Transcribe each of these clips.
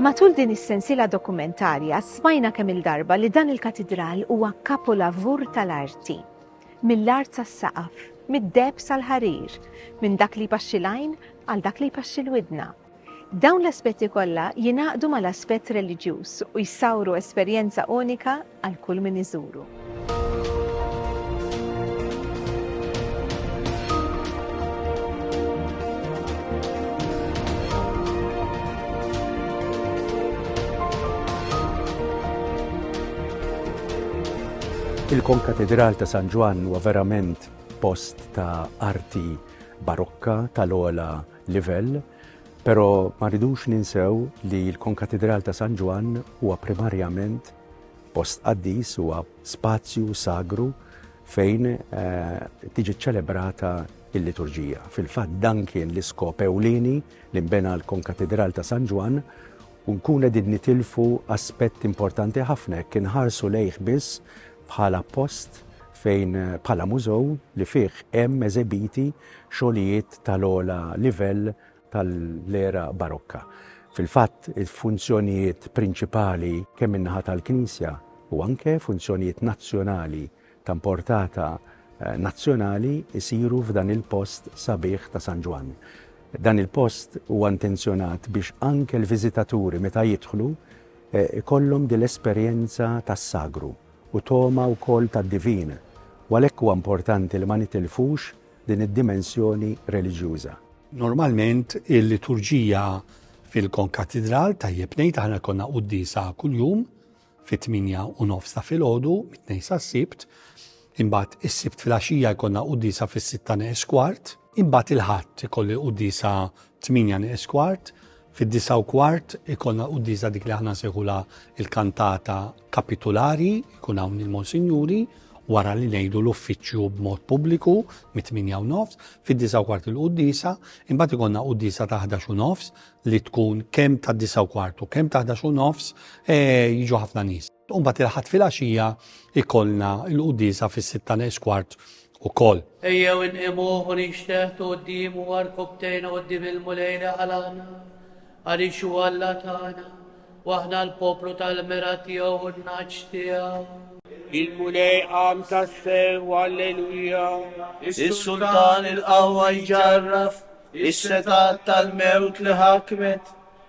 Matul din is-sensila dokumentarja smajna kemm il-darba li dan il-katidral huwa kapolavur tal-arti. Mill-art sas-saqaf, mid-deb sal-ħarir, minn dak li jpaxxi l-għajn għal dak li jpaxxi l-widna. Dawn l-aspetti kollha jingħaqdu mal-aspett reliġjuż u jsawru esperjenza unika għal kull min iżuru. Il-Konkatedral ta' San Ġwann huwa verament post ta' arti barokka tal-ola livell, però ma rridux ninsew li l-Konkatidral ta' San Ġwann huwa primarjament post qaddis, huwa spazju sagru fejn tiġi ċċelebrata l-liturġija. Fil-fatt dan kien l-iskop ewlieni li nbena l-Konkatidral ta' San Ġwann u nkun qegħdin nitilfu aspett importanti ħafna jekk inħarsu lejh biss bħala post fejn bħala mużew li fih hemm eżebiti xogħlijiet tal-ogħla livell tal-era Barokka. Fil-fatt, il-funzjonijiet prinċipali kemm min-naħa tal-Knisja u anke funzjonijiet nazzjonali ta' mportata nazzjonali jsiru f'dan il-post sabiħ ta' San Ġwann. Dan il-post huwa intenzjonat biex anke l-viżitaturi meta jidħlu ikollhom din l-esperjenza tas-sagru u togħma wkoll tad-divin, u għalhekk huwa importanti li ma nitilfux din id-dimensjoni reliġjuża. Normalment il-liturġija fil-konkatidral, tajjeb ngħid, aħna jkollna quddiesa kuljum fit-tmienja u nofs ta' filgħodu, mit-Tnejn sas-Sibt, Imbagħad is-Sibt filgħaxija jkollna l-quddiesa fis-sitta neqes kwart. Imbagħad il-Ħadd ikolli l-quddiesa tmienja neqes kwart. Fid-disa' u kwart ikollna l-quddiesa dik li aħna nsejħulha l-kantata kapitulari, jkun hawn il-Monsinjuri, wara li ngħidu l-uffiċċju b'mod pubbliku mit-tminja u nofs, fid-disa' u kwart il-quddiesa, imbagħad ikollna quddiesa ta' ħdax u nofs li tkun kemm tad-disa' u kwart u kemm ta' ħdax u nofs jiġu ħafna nies. U mbagħad il-Ħadd filgħaxija jkollna l-quddiesa fis-sitta neqs kwart ukoll. Ejjew inqimuh u ninxteħtu quddiemu u rkopptejna quddiem il-Mulej li ħalaqna, għaliex hu Alla tagħna, u aħna l-poplu tal-mira tiegħu u n-nagħaġ tiegħu. Il-Mulej qam tassew, alleluja! Is-Sultan il-qawwa jġarraf, is-setgħat tal-mewt li ħakmet,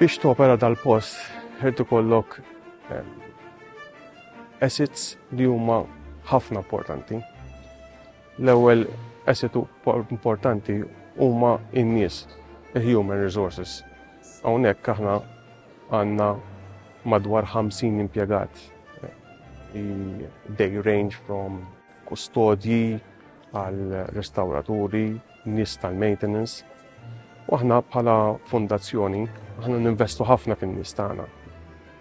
Biex topera dal-post, ħed ikollok ehm, assets li huma ħafna importanti. L-ewwel asset importanti huma in-nies, il-human resources. Hawnhekk aħna għandna madwar 50 impjegat. They range from kustodji, għar-restawraturi, nies tal-maintenance. U aħna bħala fondazzjoni, aħna ninvestu ħafna fin-nies tagħna.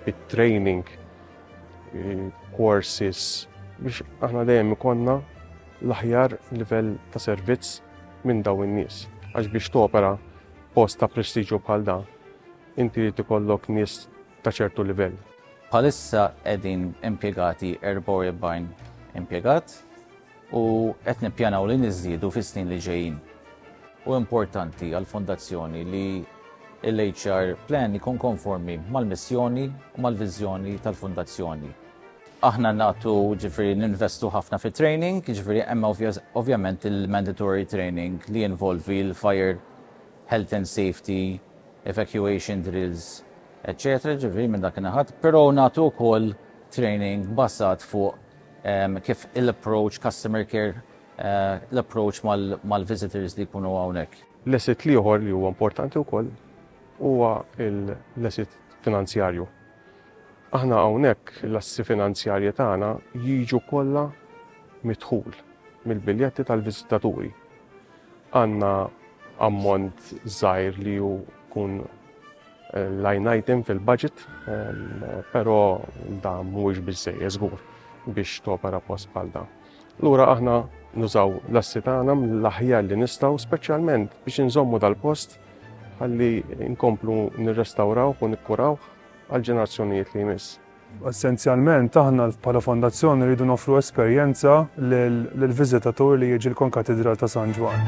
It-training, courses, biex aħna dejjem ikonna l-aħjar livell ta' servizz minn daw in-nies. Għax biex topera post ta' prestiġju bħal da, inti li tikollok nies ta' ċertu livell. Bħalissa qegħdin impjegati 44 impjegat u qed nippjanaw li niżdiedu fis-snin li ġejjin. Hu importanti għall-Fondazzjoni li l-HR Plan ikun konformi mal-missjoni u mal-viżjoni tal-Fondazzjoni. Aħna nagħtu, jiġifieri ninvestu ħafna fit-training, jiġifieri hemm ovvjament il-mandatory training li jinvolvi l-fire health and safety, evacuation drills, eċċetera Jiġifieri minn dak in-naħat, però nagħtu wkoll training bbażat fuq kif il-approach, customer care, l-approach mal-visitors li jkunu hawnhekk. L-asset l-ieħor li huwa importanti wkoll huwa l-asset finanzjarju. Aħna hawnhekk l-assi finanzjarji tagħna jiġu kollha mid-dħul mill-biljetti tal-viżitaturi. Għandna ammont żgħir li hu jkun line item fil-budget, però dan mhuwiex biżżejjed żgur biex topera post bħal dan. Lura aħna nużaw l-assi tagħna mill-aħjar li nistgħu speċjalment biex inżommu dal-post ħalli nkomplu nirrestawrawh u nikkurawh għall-ġenerazzjonijiet li jmiss. Essenzjalment, aħna bħala Fondazzjoni rridu noffru esperjenza lill-viżitatur li jiġi l-Konkatidral ta' San Ġwann.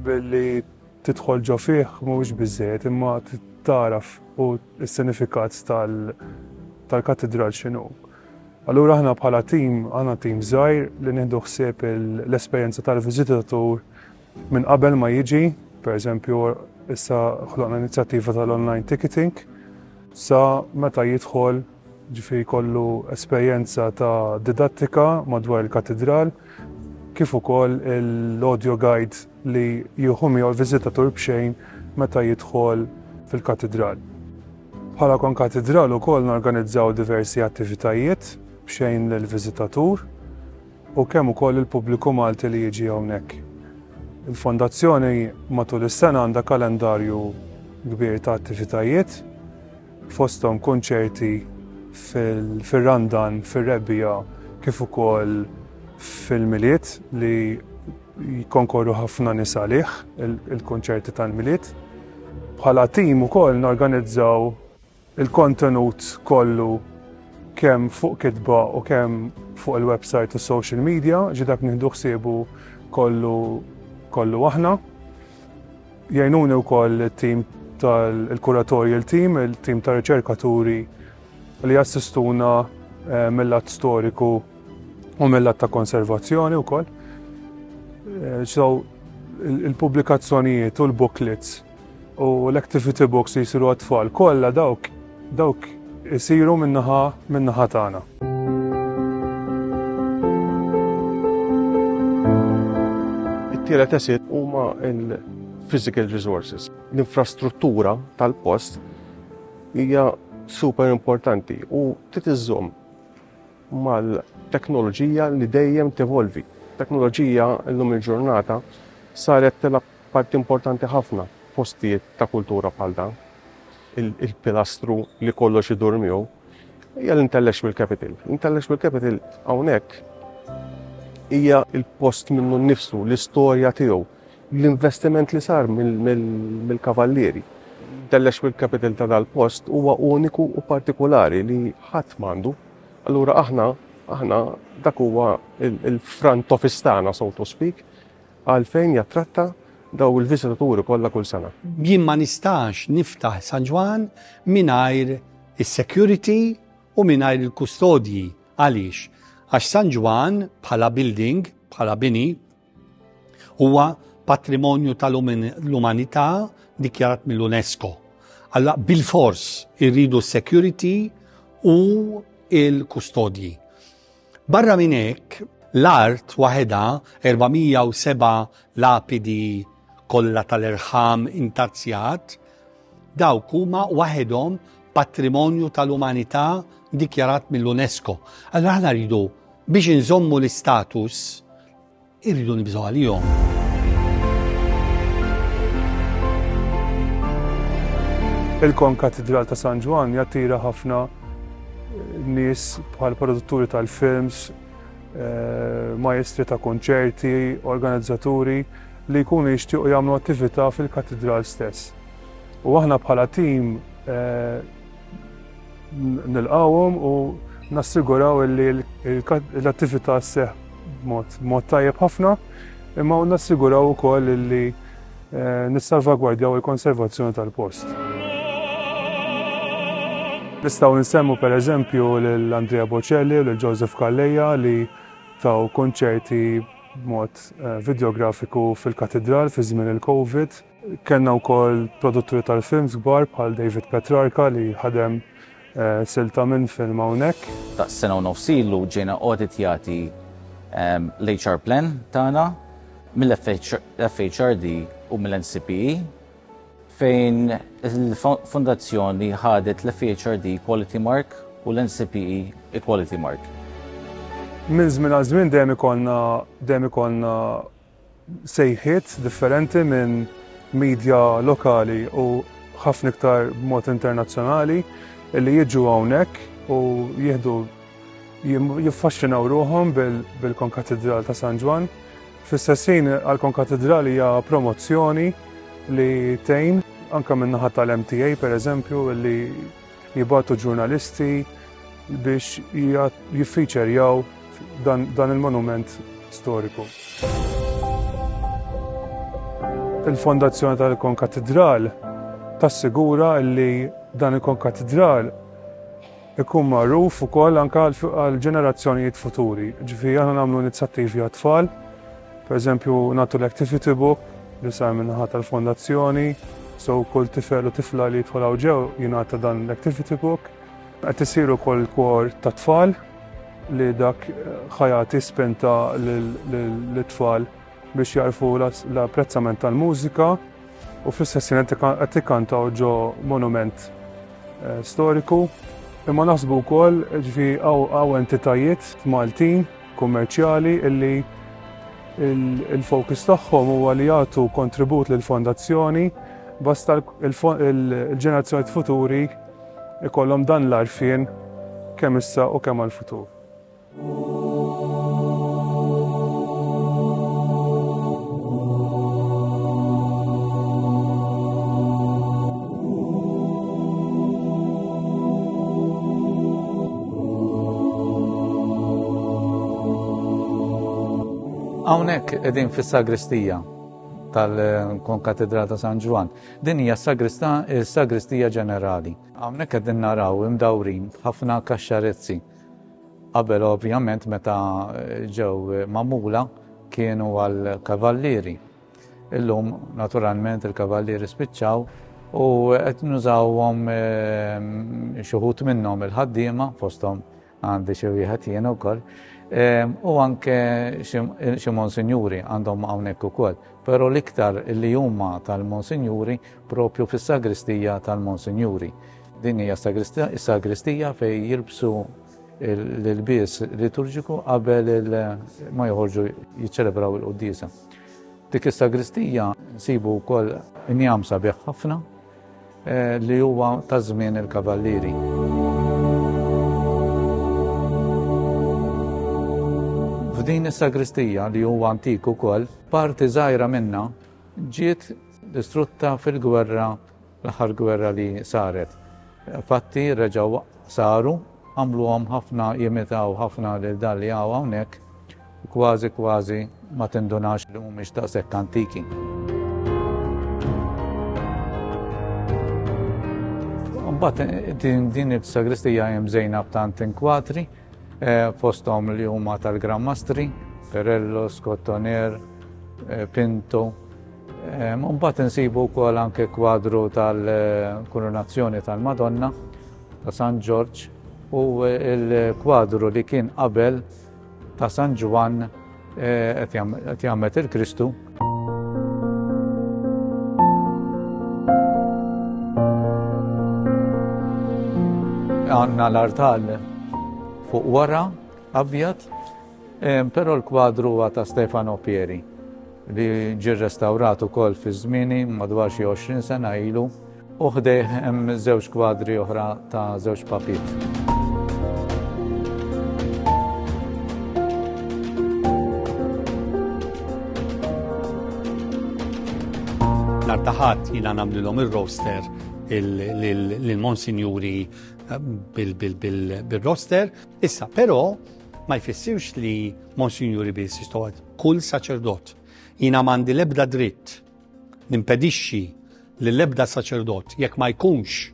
Billi tidħol ġo fih mhuwiex biżżejjed imma taraf u s-sinifikat tal-Katidral x'inhu. Allura aħna bħala tim, aħna tim żgħir li nieħdu ħsieb l-esperjenza tal-viżitatur Minn qabel ma jiġi, pereżempju issa ħloqna inizjattiva tal-online ticketing, sa meta jidħol ġifi kollu esperjenza ta' didattika madwar il-katedral, kif ukoll l-audio guide li jieħu miegħu l-viżitatur b'xejn meta jidħol fil-katedral. Bħala kon katedral ukoll norganizzaw diversi attivitajiet b'xejn lill-viżitatur, u kemm ukoll il-pubbliku Malti li jiġi hawnhekk. Il-Fondazzjoni matul is-sena għandha kalendarju kbir ta' attivitajiet, fosthom kunċerti fir-Randan, fir-Rebbiegħa kif ukoll fil-Milied li jikkonkorru ħafna nies għalih, il-kunċerti tal-Milied. Bħala tim ukoll norganizzaw Il-kontenut kollu kemm fuq kitba u kemm fuq il-website u social media, ġi dak nieħdu ħsiebu kollu kollu aħna. Jgħinuni wkoll it-tim tal-kuratorial team, il-tim ta' riċerkaturi li jassistuna eh, mill-att storiku u mill-att ta' konservazzjoni wkoll. Eh, so, il-pubblikazzjonijiet u l-booklets u l-activity books li jsiru għat-tfal kollha dawk dawk isiru min-naħa min-naħa tagħna. tielet esit huma il-physical resources. L-infrastruttura tal-post hija super importanti u titiżżomm mal-teknoloġija li dejjem tevolvi. Teknoloġija l-lum il-ġurnata saret telab Parti importanti ħafna f'postijiet ta' kultura bħal dan, il-pilastru li kollox idur miegħu, hija l-Intellectual Capital. L-Intellectual Capital hawnhekk hija l-post minnu nnifsu, l-istorja tiegħu, l-investiment li sar mill-Kavallieri. L-Intellectual Capital ta' dal-post huwa uniku u partikulari li ħadd m'għandu. Allura aħna, aħna dak huwa l-front office tagħna, so to speak, Għalfejn jattratta dawn il-viżitaturi kollha kull sena? Jien ma nistax niftaħ San Ġwann mingħajr is-security u mingħajr il-kustodji. Għaliex? Għax San Ġwann bħala building, bħala bini, huwa patrimonju tal-umanità dikjarat mill-UNESCO. Alla bil-fors irridu s-security u l-kustodji. Barra minn hekk, l-art waħedha, 407 lapidi kollha tal-irħam intazzjat, dawk huma waħedhom patrimonju tal-umanità dikjarat mill-UNESCO. Allura aħna rridu biex inżommu l-istatus Irridu nibżgħu għalihom. Il-Konkatidral ta' San Ġwann jattira ħafna eh, nies bħal produtturi tal-films, eh, majestri ta' konċerti, organizzaturi li jkunu jixtiequ jagħmlu attività fil-katidral stess. U aħna bħala tim eh, nilqgħuhom u nassiguraw li l-attività sseħħ b'mod tajjeb ħafna, imma nassiguraw ukoll li nissalvagwardjaw il-konservazzjoni tal-post. Nistgħu nsemmu pereżempju lil Andrea Bocelli u lil Joseph Calleja li taw kunċerti b'mod vidjografiku fil-Katidral fi żmien il-Covid. Kellna wkoll produtturi tal-films kbar bħal David Petrarca li ħadem silta minn film hawnhekk. Daqs sena u nofs ilu ġejna awditjati l-HR Plan tagħna mill-FHRD u mill-NCPE fejn il-Fondazzjoni ħadet l-FHRD Equality Mark u l-NCPE Equality Mark. Minn żmien għal żmien dejjem ikollna sejħiet differenti minn media lokali u ħafna iktar b'mod internazzjonali li jiġu hawnhekk u jieħdu jiffaxxinaw ruħhom bil-Konkatidral ta' San Ġwann. Fl-istess ħin għall-Konkatidral hija promozzjoni li tgħin anke min-naħa tal-MTA pereżempju li jibgħatu ġurnalisti biex jiffiċerjaw dan il-monument storiku. Il-fondazzjoni tal-konkatidral tassigura li dan il-konkatidral ikun magħruf ukoll anke għall-ġenerazzjonijiet futuri. Ġifieri aħna nagħmlu inizjattivi għat-tfal Per eżempju, nagħtu l-activity book li sar minnaħa tal-fondazzjoni, so kull tifel u tifla li jidħol ġew jingħata dan l-activity book. Qed isiru kol kor ta' tfal li dak ħajati spenta l-tfal biex jarfu l-apprezzament tal-mużika u fl-istess qed ikkantaw ġo monument eh, storiku. Imma naħsbu wkoll ġifi għaw entitajiet Maltin kummerċjali illi il-fokus tagħhom huwa li jagħtu kontribut lil fondazzjoni basta l-ġenerazzjonijiet futuri ikollhom dan l-għarfien kemm issa u kemm għall-futur. Hawnhekk qegħdin fis-sagristija tal-Konkatedral ta' San Ġwan. Din hija s-sagristija ġenerali. Hawnhekk qegħdin naraw imdawrin ħafna kaxxarezzi. Qabel ovvjament meta ġew mamula kienu għal kavallieri. Illum, naturalment, il-kavallieri spiċċaw u qed nużawhom ehm, xuħut minnhom il-ħaddiema fosthom għandi xi wieħed jiena wkoll. Ehm, u anke xi monsinjuri għandhom hawnhekk ukoll. Però l-iktar li huma tal-monsinjuri propju fis-sagristija tal-monsinjuri. Din hija sagristija fejn jilbsu l-bies liturġiku qabel ma joħorġu jiċċelebraw il-qoddisa. Dik is-sagristija nsibu wkoll injam sabiħ ħafna eh, li huwa ta' żmien il-kavallieri. F'din is-sagristija li huwa antik ukoll, parti żgħira minna ġiet distrutta fil-gwerra L-aħħar gwerra li saret. Fatti reġgħu saru, għamluhom ħafna jimitaw ħafna lil dan li hawn hawnhekk u kważi kważi ma tindunax li mhumiex daqshekk antiki. Mbagħad din il-sagristija hemm żejna b'tant inkwatri eh, fosthom li huma tal-Gran Mastri, Perello, Scottoner, eh, Pinto, Mbagħad insibu wkoll anke kwadru tal-Kurunazzjoni tal-Madonna ta' San Ġorġ u l-kwadru li kien qabel ta' San Ġwann eh, qed jagħmel il-Kristu. Għanna l-artal fuq wara abjad Però l-kwadru huwa ta' Stefano Pieri li ġie rrestawrat ukoll fi żmieni madwar xi 20 sena ilu u ħdejh hemm żewġ kwadri oħra ta' żewġ papiet. nar taħat jina namlilom il-roster il-monsinjuri eh, bil-roster. Issa, pero ma jfissirx li Monsinjuri biss jistgħu kull saċerdot. Jiena m'għandi l-ebda dritt nimpedixxi li l-ebda saċerdot jekk ma jkunx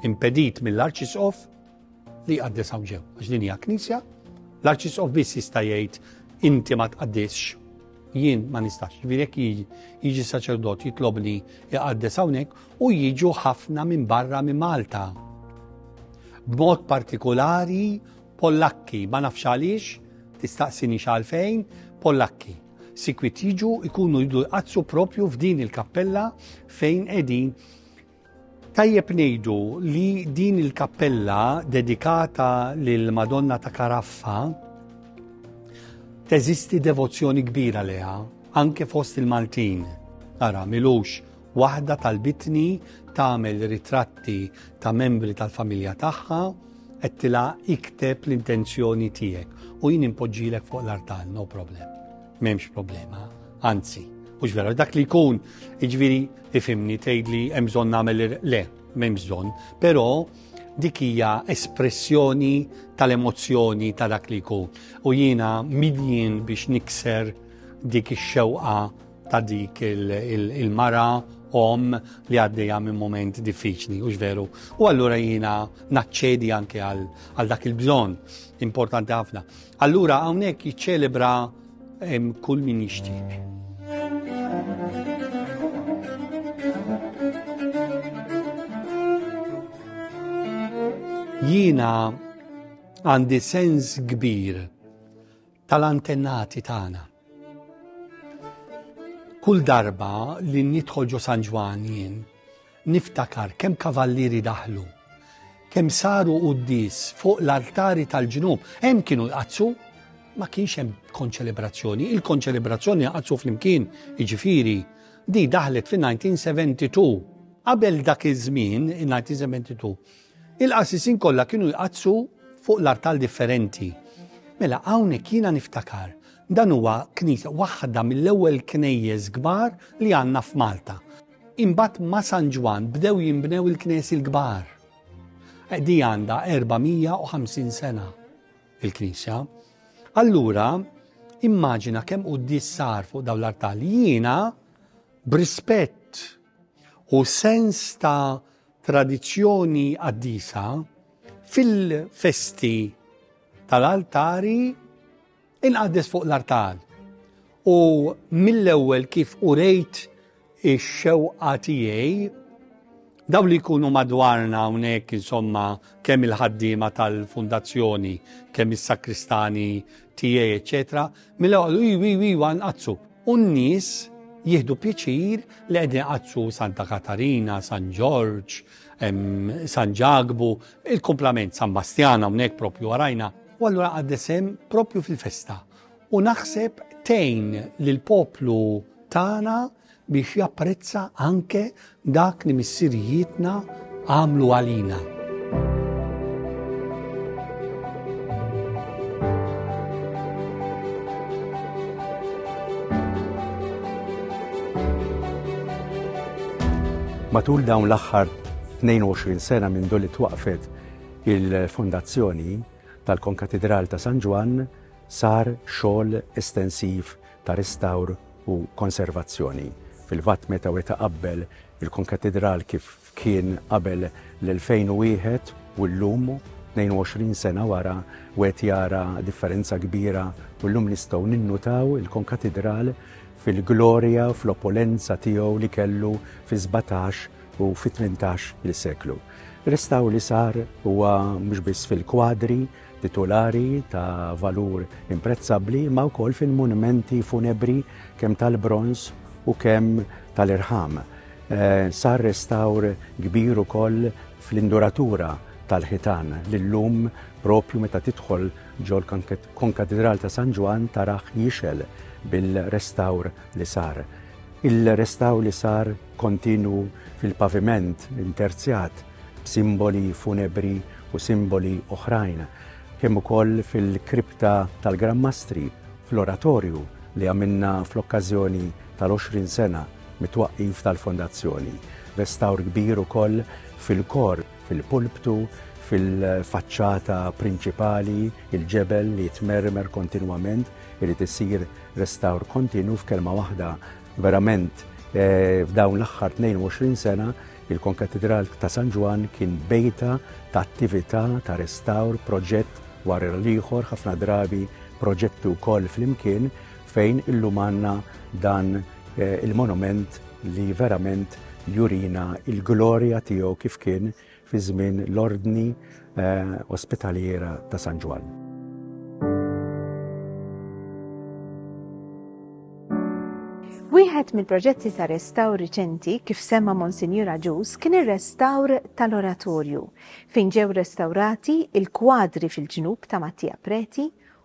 impedit mill-arċisqof li jqaddes hawn ġew. Għax din hija knisja, l-arċisqof biss jista' jgħid inti ma tqaddisx jien ma nistax. Ġifieri jekk jiġi saċerdot jitlobni jqaddes hawnhekk, u jiġu ħafna minn barra minn Malta. B'mod partikolari Pollakki, ma nafx għaliex, tistaqsini xalfejn, Pollakki. Sikwit jiġu ikunu jidu jqazzu propju f'din il-kappella fejn edin Tajjeb nejdu li din il-kappella dedikata lil Madonna ta' Karaffa teżisti devozzjoni kbira leha anke fost il-Maltin. Ara, milux Waħda talbitni tagħmel ritratti ta' membri tal-familja tagħha, għedtilha ikteb l-intenzjoni tiegħek u jien impoġġilek fuq l-artal, no problem. M'hemmx problema, anzi, u vera, dak li jkun, iġviri, ifimni tgħid li hemm bżonn nagħmel le, m'hemm bżonn, però dik hija espressjoni tal-emozzjoni ta' dak li jkun. U jiena midjien biex nikser dik ix-xewqa ta' dik il-mara om li għaddejja minn moment diffiċli, u veru. U allura jina naċċedi anke għal dak il-bżon importanti ħafna. Allura hawnhekk jiċċelebra kull min jixtieq. Jina għandi sens kbir tal-antennati tagħna. Kull darba li nidħol ġo San Ġwan jien, niftakar kemm kavallieri daħlu, kemm saru quddis fuq l-artari tal-ġnub, hemm kienu jqazzu, ma kienx hemm konċelebrazzjoni, il-konċelebrazzjoni jqazzu flimkien, jiġifieri, di daħlet fin-1972. Qabel dak iż-żmien, in-1972, Il-qassisin kollha kienu jqaddsu fuq l-artal differenti. Mela hawnhekk jiena niftakar dan huwa knisja waħda mill-ewwel knejjes kbar li għandna f'Malta. Imbagħad ma' San Ġwann bdew jinbnew il-knejjes l-kbar. Di għandha 450 sena il-knisja. Allura immaġina kemm quddies sar fuq dawn l-artali. Jiena b'rispett u sens ta' tradizzjoni qaddisa fil-festi tal-altari inqaddes fuq l-artal. U mill-ewwel kif urejt ix-xewqa tiegħi daw li jkunu madwarna hawnhekk insomma kemm il-ħaddiema tal-fundazzjoni, kemm is-sakristani tiegħi eċċetera mela joqogħdu iw iw iw anqazzu. U n-nies jieħdu pjaċir li qegħdin iqazzru Santa Katarina, San Ġorġ, San Ġagbu, il-kumplament San Bastjana hawnhekk propju warajna. U allura qaddesem propju fil-festa. U naħseb tejn lill-poplu tagħna biex japprezza anke dak li missirijietna għamlu għalina. Matul dawn l-aħħar 22 sena minn doli twaqfet il-fondazzjoni tal-Konkatedral ta' San Ġwann sar xogħol estensiv ta' ristawr u konservazzjoni fil-fatt meta weta' qabbel il-Konkatidral kif kien qabel l-2001 u llum, 22 sena wara, wieħed jara differenza kbira u llum nistgħu ninnutaw il-Konkatidral fil-glorja u fl-opulenza tiegħu li kellu fis-sbatax u fit-tmintax il-seklu. Ristawr li sar huwa mhux biss fil-kwadri, titulari ta' valur imprezzabbli imma wkoll fil-munmenti funebri kemm tal-bronż u kemm tal-irħam. Eh, sar restawr kbir ukoll fl-induratura tal-ħitan li llum propju meta tidħol ġol konkatedral ta' San Ġwan taraħ jixel bil-restawr li sar. Il-restawr li sar kontinu fil-paviment interzjat b'simboli funebri u simboli oħrajn, kemm ukoll fil-kripta tal-Gran Mastri fl-Oratorju li għamilna fl-okkażjoni tal-20 sena mit-twaqqif tal-Fondazzjoni. Restawr kbir ukoll fil-kor, fil-pulptu, fil-faċċata prinċipali, il-ġebel li jitmermer kontinwament, irid isir restawr kontinu f'kelma waħda verament eh, f'dawn l-aħħar 22 sena Il-Konkatidral ta' San Ġwann kien bejta ta' attività ta' restawr, proġett wara l-ieħor, ħafna drabi proġetti wkoll flimkien, fejn illum għandna dan il-monument li verament jurina l-glorja tiegħu kif kien fi żmien l-Ordni, Ospitaliera ta' San Ġwann. Wieħed mill-proġetti ta' restawr riċenti kif semma Monsinjur Agius kien ir-restawr tal-Oratorju fejn ġew restawrati il-kwadri fil-ġnub ta' Mattia Preti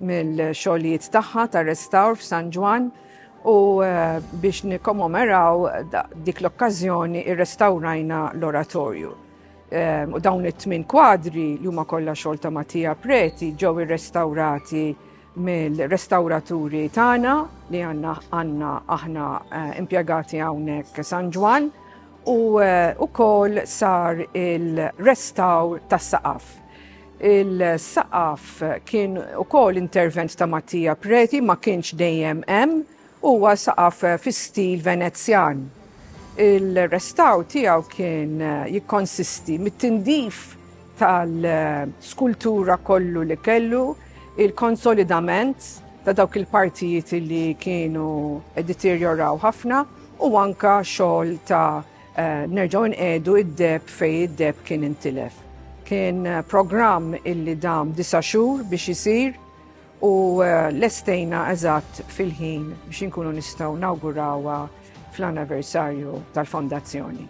mill-xogħlijiet tagħha ta' restawr f'San Ġwann u biex nikkommemeraw dik l-okkażjoni irrestawrajna l-oratorju. Ehm, u dawn it-tmin kwadri li huma kollha xogħol ta' Mattia Preti ġew irrestawrati mill-restawraturi tagħna li għandna għandna aħna eh, impjegati hawnhekk San Ġwan u wkoll eh, sar il-restawr tas-saqaf. Il-saqaf kien ukoll intervent ta' Mattia Preti ma kienx dejjem hemm, huwa saqaf fi stil Venezjan. Il-restaw tiegħu kien jikkonsisti mit-tindif tal-skultura kollu li kellu, il-konsolidament ta' dawk il-partijiet li kienu deterjoraw ħafna u anka xogħol ta' Nerġgħu nqiegħdu id-deheb fejn id-deheb kien intilef. Kien programm illi dam disa' xhur biex isir u eh, lestejna eżatt fil-ħin biex inkunu nistgħu nawgurawha fl-anniversarju tal-fondazzjoni.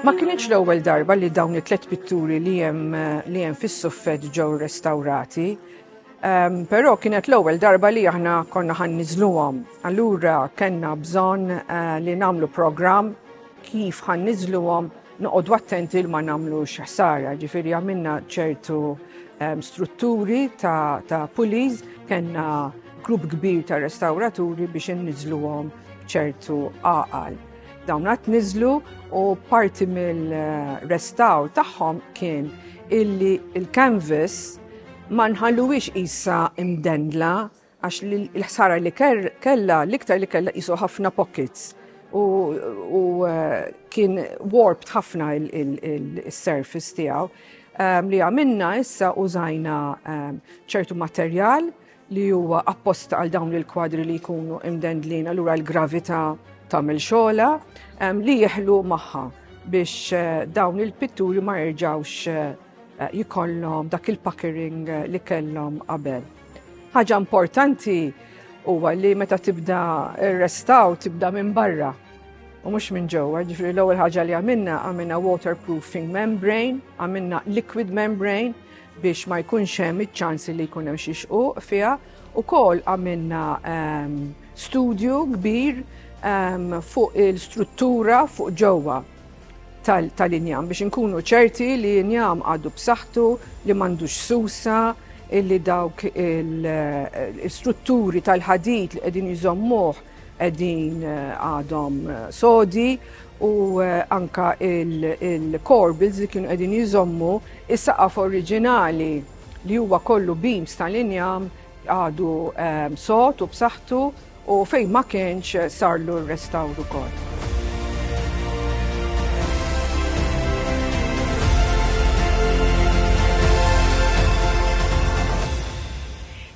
Ma kienx l-ewwel darba li dawn it-tlet pitturi li hemm li hemm fis-suffett ġew restawrati. Però kienet l-ewwel darba li aħna konna ħan niżluhom. Allura kellna bżonn eh, li nagħmlu programm kif ħan niżluhom noqogħdu attenti li ma nagħmlux ħsara. Ġifieri għamilna ċertu strutturi ta', ta pulis, kellna grupp kbir ta' restawraturi biex inniżluhom ċertu għaqal. Dawn għat niżlu u parti mill-restaw tagħhom kien illi il-canvas Ma nħalluhiex qisha mdendla għax l-ħsara li kellha l-iktar li kellha qisu ħafna pockets u eh, kien warped ħafna il-surface tiegħu ehm, li għamilna issa użajna ehm, ċertu materjal li huwa apposta għal dawn il-kwadri li jkunu imdendlin allura l-gravità tagħmel xogħla li jeħlu magħha biex eh, dawn il-pitturi ma jerġgħux eh, eh, jikollhom dak il-packering eh, li kellhom qabel. Ħaġa importanti huwa li meta tibda restaw tibda minn barra u mhux minn ġewwa, ġifri l-ewwel ħaġa li għamilna għamilna waterproofing membrane, għamilna liquid membrane biex ma jkunx hemm iċ-ċansi li jkun hemm xi xquq fiha u kol għamilna ehm, studju kbir ehm, fuq il-struttura fuq ġewwa. tal-injam biex inkunu ċerti li injam għadu b'saħħtu li m'għandux susa illi dawk il-strutturi tal-ħadid li qegħdin jżommuh qegħdin eh, għadhom eh, sodi u eh, anka il-corbils li kienu qegħdin jżommu is-saqaf oriġinali li huwa kollu beams tal-injam Għadu sod u b'saħħtu u fejn ma kienx sarlu r-restawr ukoll.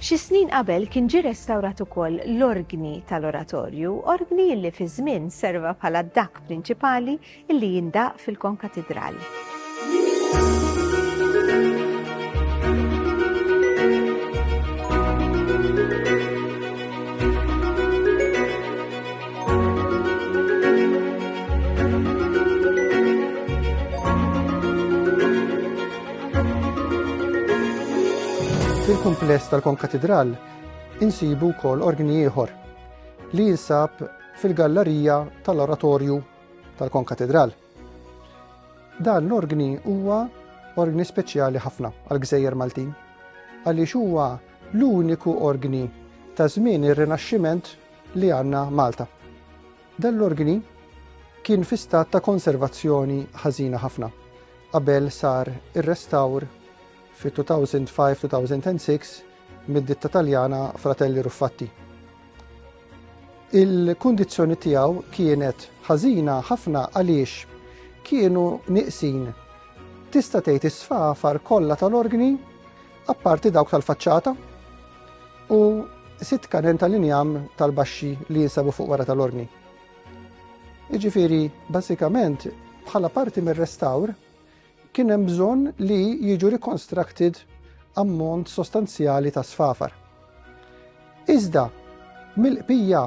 Xi snin qabel kien ġie restawrat ukoll l-orgni tal-oratorju, orgni li fi żmien serva bħala d-dakk prinċipali illi jindaqq fil-Konkatidral. Fil-kumpless tal-Konkatidral insibu wkoll orgni ieħor li jinsab fil-gallerija tal-oratorju tal-konkatedral. Dan l-organi huwa organi speċjali ħafna għal-gżejjer Maltin, għaliex huwa l-uniku organi ta' żmien ir-Rinaxximent li għandna Malta. Dan l-organi kien fi stat ta' konservazzjoni ħażina ħafna qabel sar ir-restawr fi 2005-2006 mid-ditta Taljana Fratelli Ruffatti. Il-kundizzjoni tiegħu kienet ħażina ħafna għaliex kienu niqsin tista' tgħid is-sfafar kollha tal-organi apparti dawk tal-faċċata u sitt kanen tal-injam tal-baxxi li jinsabu fuq wara tal-orni. Iġifiri, basikament, bħala parti mir-restawr, kien hemm bżonn li jiġu reconstructed ammont sostanzjali ta' sfafar. Iżda, mill-qbija,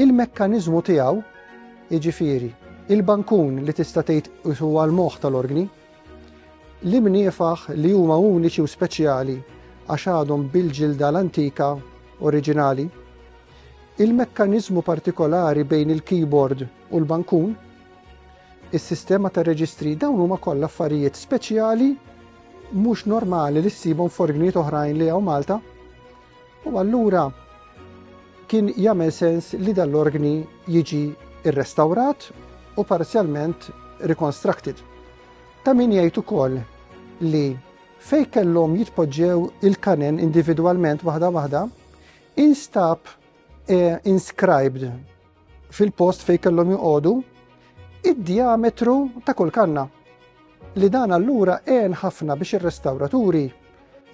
il-mekkaniżmu tiegħu, jiġifieri, il-bankun li tista' tgħid huwa l-moħħ tal-organi, li mniefaħ li huma uniċi u speċjali għax għadhom bil-ġilda l-antika oriġinali, il-mekkaniżmu partikolari bejn il-keyboard u l-bankun, Is-sistema ta' reġistri dawn huma kollha affarijiet speċjali mhux normali li ssibhom forgniet oħrajn li hawn Malta. U allura kien jagħmel sens li dal-organi jiġi rrestawrat u parzjalment reconstructed. Ta' min jgħid ukoll li fej kellhom jitpoġġew il-kanen individwalment waħda waħda, instab eh, inscribed fil-post fejn kellhom joqogħdu id-diametru ta' kull kanna li dan allura għen ħafna biex ir-restawraturi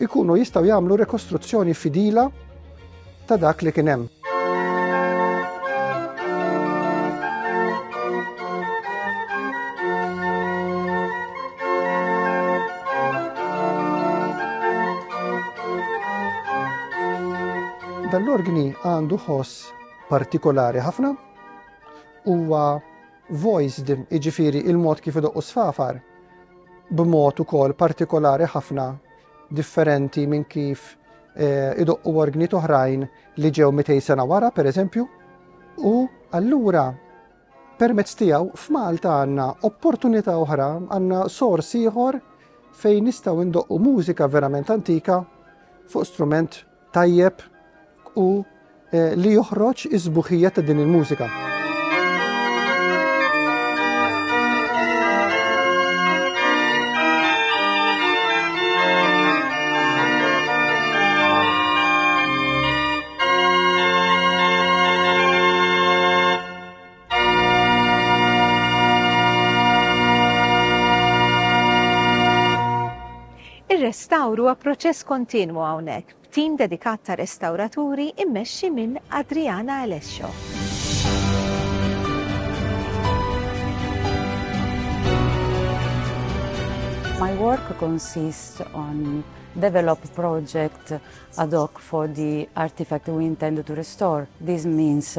ikunu jistaw jagħmlu rekostruzzjoni fidila ta' dak li kien hemm. Dan l-organi għandu ħoss partikolari ħafna huwa voice din iġifiri il-mod kif idoqqu sfafar b'mod ukoll partikolari ħafna differenti minn kif eh, idoqqu organi oħrajn li ġew 200 sena wara, per eżempju, u allura permezz tiegħu f'Malta għandna opportunità oħra, għandna sors ieħor fejn nistgħu ndoqqu mużika verament antika fuq strument tajjeb u li joħroġ is-sbuħija ta' din il-mużika. Ir-restawr huwa proċess kontinwu hawnhekk b'tim dedikat ta' restawraturi immexxi minn Adriana Alessio. My work consists on develop project ad hoc for the artifact we intend to restore. This means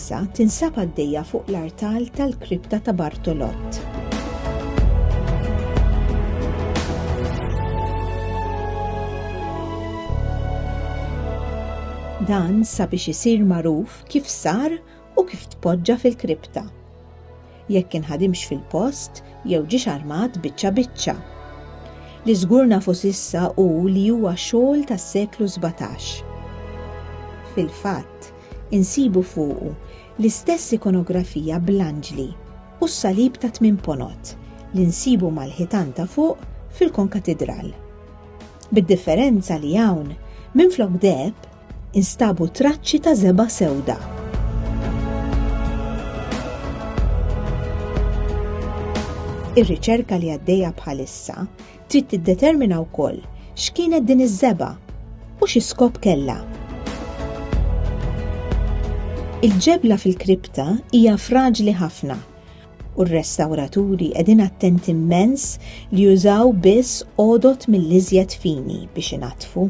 Issa tinsab għaddejja fuq l-artal tal-Kripta ta' Bartolott. Dan sabiex isir magħruf kif sar u kif tpoġġa fil-kripta. jekk inħadimx fil-post jew ġiex armat biċċa biċċa. Li żgur nafu s'issa hu li huwa xogħol tas-seklu sbatax. Fil-fatt, insibu fuqu l-istess ikonografija bl-anġli u s-salib ta' tmien ponot li nsibu mal-ħitan ta' fuq fil-konkatidral. Bid-differenza li hawn, minflok deb, Instabu traċċi ta' żebgħa sewda. Ir-riċerka li għaddejja bħalissa trid tiddetermina wkoll x'kienet din iż-żeba u xi skop kellha. Il-ġebla fil-kripta hija fraġli ħafna u r-restawraturi qegħdin attent immens li jużaw biss għodot mill-iżjed fini biex inattfu.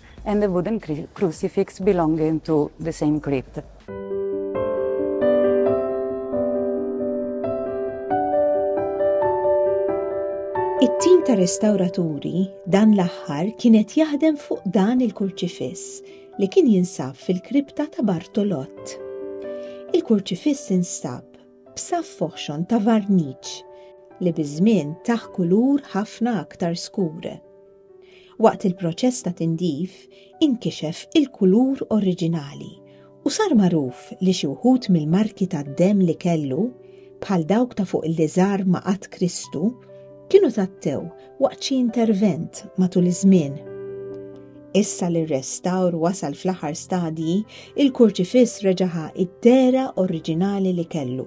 and a wooden crucifix belonging to the same crypt. It-tim ta' restawraturi dan l-aħħar kienet jaħdem fuq dan il-kurċifiss li kien jinsab fil-kripta ta' Bartolott. Il-kurċifiss instab b'saf foħxon ta' varniċ li biż-żmien taħ kulur ħafna aktar skur. Waqt il-proċess ta' tindif inkixef il-kulur oriġinali u sar magħruf li xi wħud mill-marki tad-demm li kellu, bħal dawk ta' fuq l-iżgħar ma' Qadd Kristu, kienu tgħattew waqt xi intervent matul iż-żmien. Issa li r-restawr wasal fl-aħħar stadji, il-kurċifiss reġa' ħa d-dehra oriġinali li kellu.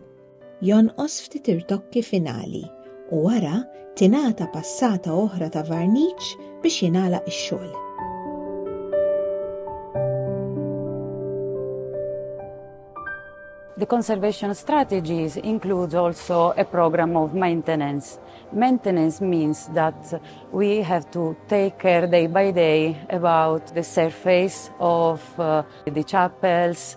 Jonqos ftit irtokki finali u wara tingħata passata oħra ta' varniċ biex jingħalaq ix-xogħol. The conservation strategies includes also a program of maintenance. Maintenance means that we have to take care day by day about the surface of uh, the chapels,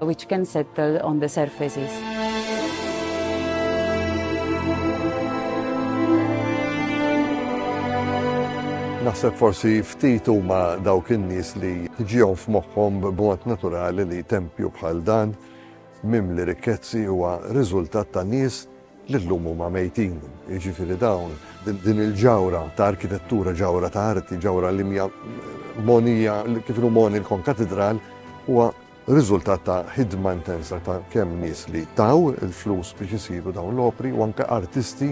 which can settle on the surfaces. Naħseb forsi ftit huma dawk in-nies li ġihom f'moħħhom b'mod naturali li tempju bħal dan mimli rikkezzi huwa riżultat ta' nies li llum huma mejtin. Jiġifieri dawn din il-ġawra ta' arkitettura, ġawra ta' arti, ġawra limja monija kif moni l-kon katedral huwa riżultat ta' ħidma intensa ta' kemm nies li taw il-flus biex isiru dawn l-opri u anke artisti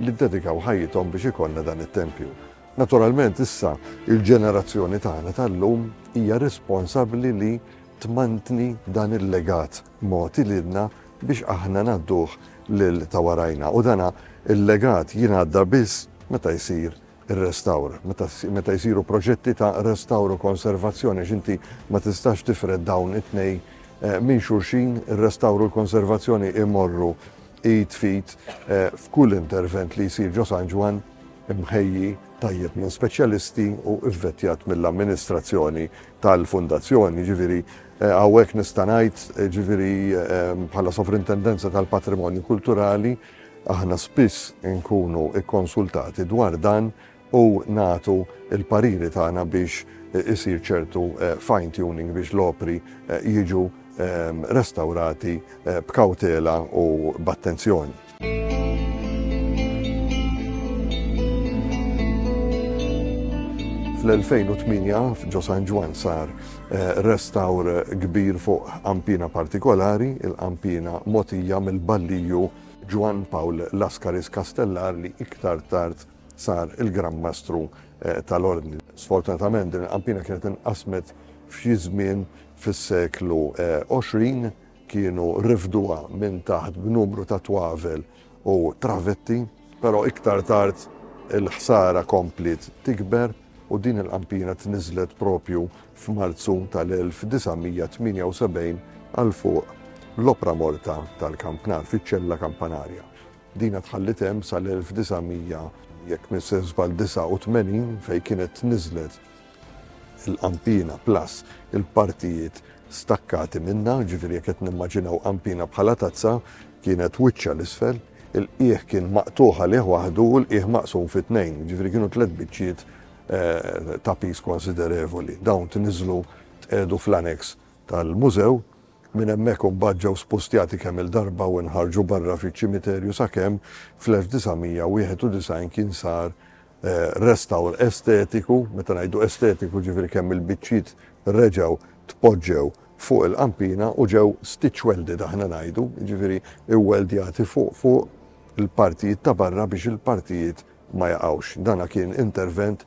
li ddedikaw ħajjithom biex ikollna dan it-tempju. Naturalment issa il-ġenerazzjoni tagħna tal-lum hija responsabbli li tmantni dan il-legat mogħti lilna biex aħna ngħadduh lil ta' warajna u dana il-legat jingħadda biss meta jsir ir-restawr, meta meta jsiru proġetti ta' restawr u konservazzjoni għax inti ma tistax tifred dawn it-tnejn minn xulxin, ir-restawr u l-konservazzjoni jmorru id f'id f'kull intervent li jsir ġo San Ġwann, imħejji tajjeb minn speċjalisti u vvettjat mill-amministrazzjoni tal-Fundazzjoni. Jiġifieri hawnhekk nista' ngħid, jiġifieri bħala Sovrintendenza tal-Patrimonju Kulturali, Aħna spiss inkunu kkonsultati dwar dan u nagħtu l-pariri tagħna biex isir ċertu fine tuning biex l-opri jiġu restawrati b'kawtela u b'attenzjoni. Fl-2008 f'Ġo San Ġwann sar Restawr kbir fuq qanpiena partikolari, il-qanpiena mogħtija mill-balliju Ġwann Pawl Laskaris Castellar li iktar tard sar il-Gran Mastru tal-Ordni. Sfortunatament din il-qanpiena kienet inqasmet f'xi żmien fis-seklu 20, kienu rifduha minn taħt b'numru ta' twavel u travetti, però iktar tard il-ħsara kompliet tikber u din il-qampina tniżżlet proprju f'Marzu tal-1978 għal fuq l-opra morta tal-kampnar fiċ-ċella kampanarja. Dina tħalliet hemm sal-1900, jekk m'se żball 89, fejn kienet tniżżlet il-qampina plus il-partijiet stakkati minnha, ġifieri jekk qed nimmaġinaw qampina bħala tazza, kienet wiċċha l-isfel, il-qiegħ kien maqtugħ għalih waħdu u l-qiegħ maqsum fi tnejn, ġifieri kienu tliet biċċiet eh, ta' piż konsiderevoli. Dawn tniżlu tqiegħdu fl-aneks tal-mużew minn hemmhekk imbagħad ġew spustjati kemm il-darba u nħarġu barra fiċ-ċimiterju sakemm fl-1991 kien sar restawr estetiku, meta ngħidu estetiku jiġifieri kemm il-biċċiet reġgħu tpoġġew fuq il-qampina u ġew stitch welded aħna ngħidu, jiġifieri iwweldjati fuq fuq il-partijiet ta' barra biex il-partijiet ma jaqgħux. Dan kien intervent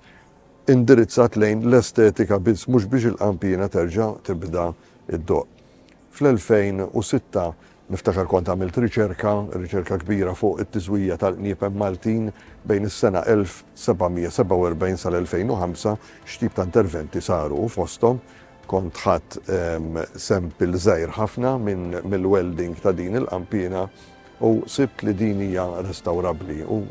indirizzat lejn l-estetika biss mhux biex il-qampina terġa' tibda ddoqq. Fl-2006, niftakar kont għamilt riċerka, riċerka kbira fuq it-tiżwija tal-qniepen Maltin bejn is-sena 1747 sal-2005, x'tip ta' interventi saru u fosthom kont ħadt sample żgħir ħafna mill-welding ta' din il-qanpiena u sibt li din hija restawrabbli u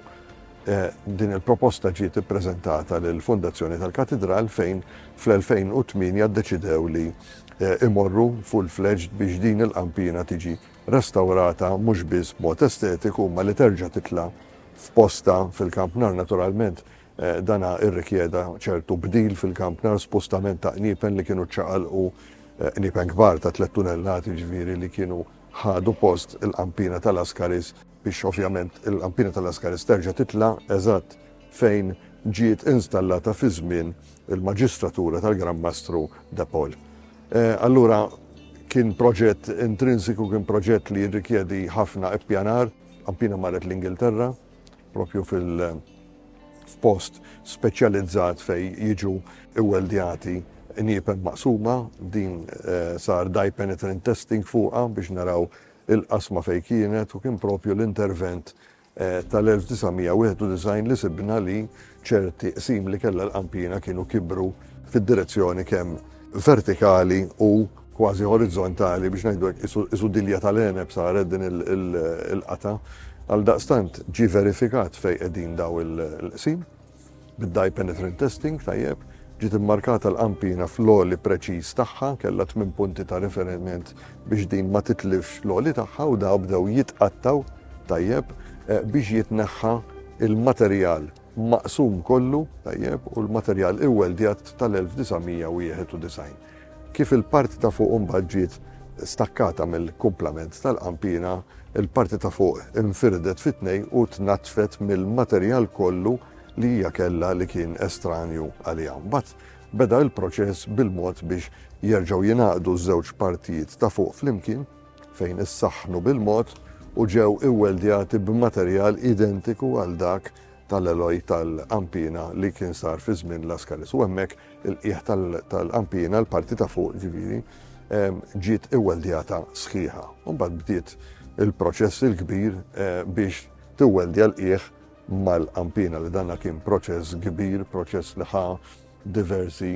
Din il-proposta ġiet ippreżentata lill-Fondazzjoni tal-Katidral fejn fl-2008 ddeċidew li imorru full-fledged biex din il-qanpiena tiġi restawrata mhux biss b'mod estetiku imma li terġa' titla' f'postha fil-kampnar. Naturalment dan irrikjeda ċertu bdil fil-kampnar, spostament ta' qniepen li kienu ċċaqalqu, qniepen kbar ta' tlett tunellati jiġifieri li kienu ħadu post il-qanpiena tal-Ascaris. biex ovvjament il-kampina ta' Lascaris terġa' titla' eżatt fejn ġiet installata fi żmien il-maġistratura tal-Gran Mastru De Pol. Allura kien proġett intrinsiku, kien proġett li jirrikjedi ħafna ippjanar, kampina marret l-Ingilterra, propju fil-post speċjalizzat fejn jiġu iweldjati niepen maqsuma, din sar dye penetrant testing fuqha biex naraw il-qasma fejn kienet u kien proprju l-intervent tal-1991 li sibna li ċerti qsim li kellha l-qanpiena kienu kibru fid-direzzjoni kemm vertikali u kważi orizzontali biex ngħidu hekk qisu dilja tal-għeneb saret din il-qatgħa. Għaldaqstant ġie verifikat fejn qegħdin dawn il-qsim Bid-dye penetrant testing, tajjeb, ġiet immarkata l-qampina fl-għoli preċiż tagħha, kellha tmien punti ta' riferiment biex din ma titlifx l-għoli tagħha u dawn bdew jitqattgħu, tajjeb, biex jitneħħa l-materjal maqsum kollu, tajjeb, u l-materjal iwweldjat tal-1991. Kif il-parti ta' fuq imbagħad ġiet stakkata mill-kumplament tal-qanpiena, il-parti ta' fuq infirdet fi tnejn u tnaddfet mill-materjal kollu li hija kellha li kien estranju għaliha. Mbagħad beda l-proċess bil-mod biex jerġgħu jingħaqdu ż-żewġ partijiet ta' fuq flimkien, fejn issaħħnu bil-mod u ġew iwweldjati b'materjal identiku għal dak tal-Għeloj tal-Qampina li kien sar fi żmien Laskaris. U hemmhekk il-qiegħ tal-Qampina, l-parti ta' fuq ġifieri, ġiet iweldjata sħiħa. U mbagħad bdiet il-proċess il-kbir eh, biex tiweldja l-qiegħ mal-qampina li danna kien proċess kbir, proċess li ħa diversi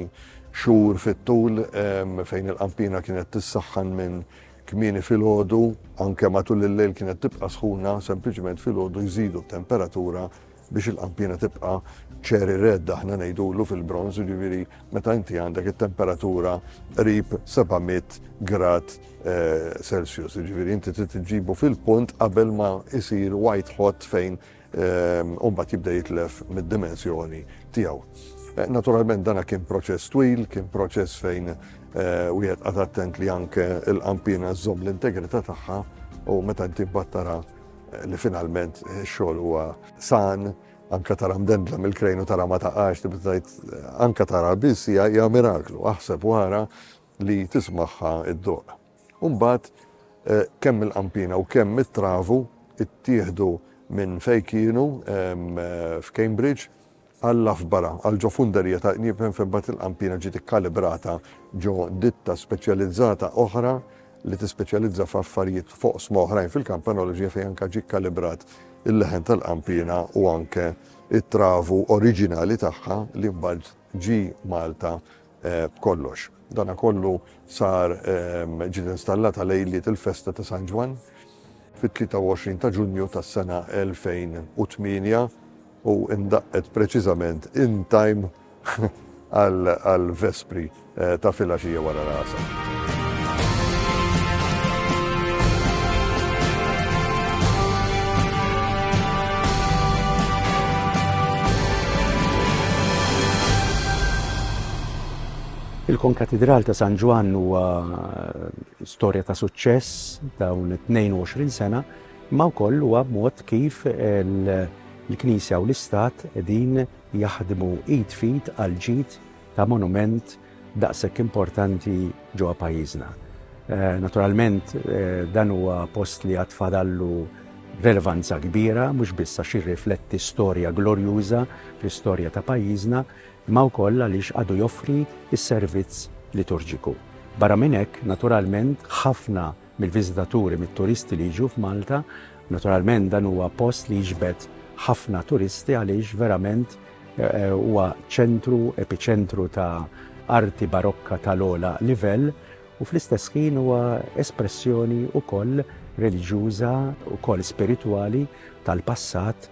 xhur fit-tul ehm, fejn il-qampina kienet tissaħħan minn Kmieni filgħodu, anke matul il-lejl kienet tibqa' sħuna, sempliċement filgħodu jżidu t-temperatura biex il-qanpiena tibqa' cherry red aħna ngħidulu fil-bronż, jiġifieri meta inti għandek it-temperatura qrib 700 grad Celsius, jiġifieri inti trid iġġibu fil-punt qabel ma jsir white hot fejn u mbagħad jibda jitlef mid-dimensjoni tiegħu. Naturalment dana kien proċess twil, kien proċess fejn wieħed qad attent li anke l-qampina żżomm l-integrità tagħha u meta inti battara li finalment xogħol huwa san, anka tara mdendla mill-krejn u tara ma taqax, tibdajt anka tara biss hija miraklu, aħseb wara li tismaħħa id-doq. U mbagħad kemm il-Qampina u kemm it-Travu ttieħdu minn fejn kienu f'Cambridge għal Loughborough, għal ġo funderija ta' qnieb hemm fejn mbagħad il-Qampina ġiet ikkalibrata ġo ditta speċjalizzata oħra li tispeċjalizza f'affarijiet f'oqsma oħrajn fil-kampanoloġija fejn anke ġie kkalibrat il-leħen tal-Qampina u anke t-Travu oriġinali tagħha li mbagħad ġie Malta b'kollox. Dana kollu sar ġiet installata lejliet il-festa ta' San Ġwann fit-23 ta' Ġunju tas-sena 2008 u indaqqet preċiżament in time għall-Vespri ta' filgħaxija wara l-Għasar. Il-Konkatidral ta' San Ġwann huwa eh, storja ta' suċċess dawn 22 sena, ma wkoll huwa mod kif il-Knisja u l-Istat din jaħdmu id fit għal ġid ta' monument daqshekk importanti ġewwa pajjiżna. Naturalment, dan huwa post li għad fadallu relevanza kbira, mhux biss għax jirrifletti storja glorjuża fl-istorja ta' pajjiżna, imma wkoll għaliex għadu joffri s-servizz liturġiku. Barra minn hekk, naturalment, ħafna mill-viżitaturi, mit-turisti li jiġu f'Malta. Naturalment dan huwa post li jiġbed ħafna turisti għaliex verament huwa ċentru, epiċentru ta' arti barokka tal-ogħla livell u fl-istess ħin huwa espressjoni wkoll reliġjuża, wkoll spiritwali tal-passat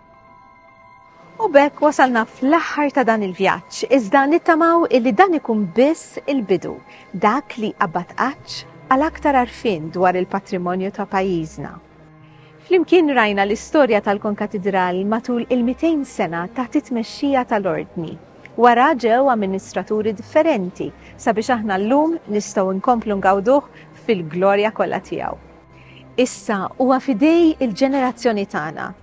U bekk wasalna fl-aħħar ta' dan il-vjaġġ, iżda nittamaw illi dan ikun biss il-bidu, dak li qabad qaċċ għal aktar arfin dwar il-patrimonju ta' pajjiżna. Flimkien rajna l-istorja tal-Konkatidral matul il-200 sena taħt it-tmexxija tal-Ordni. Wara ġew amministraturi differenti sabiex aħna llum nistgħu nkomplu ngawduh fil-glorja kollha tiegħu. Issa huwa f'idej il-ġenerazzjoni tagħna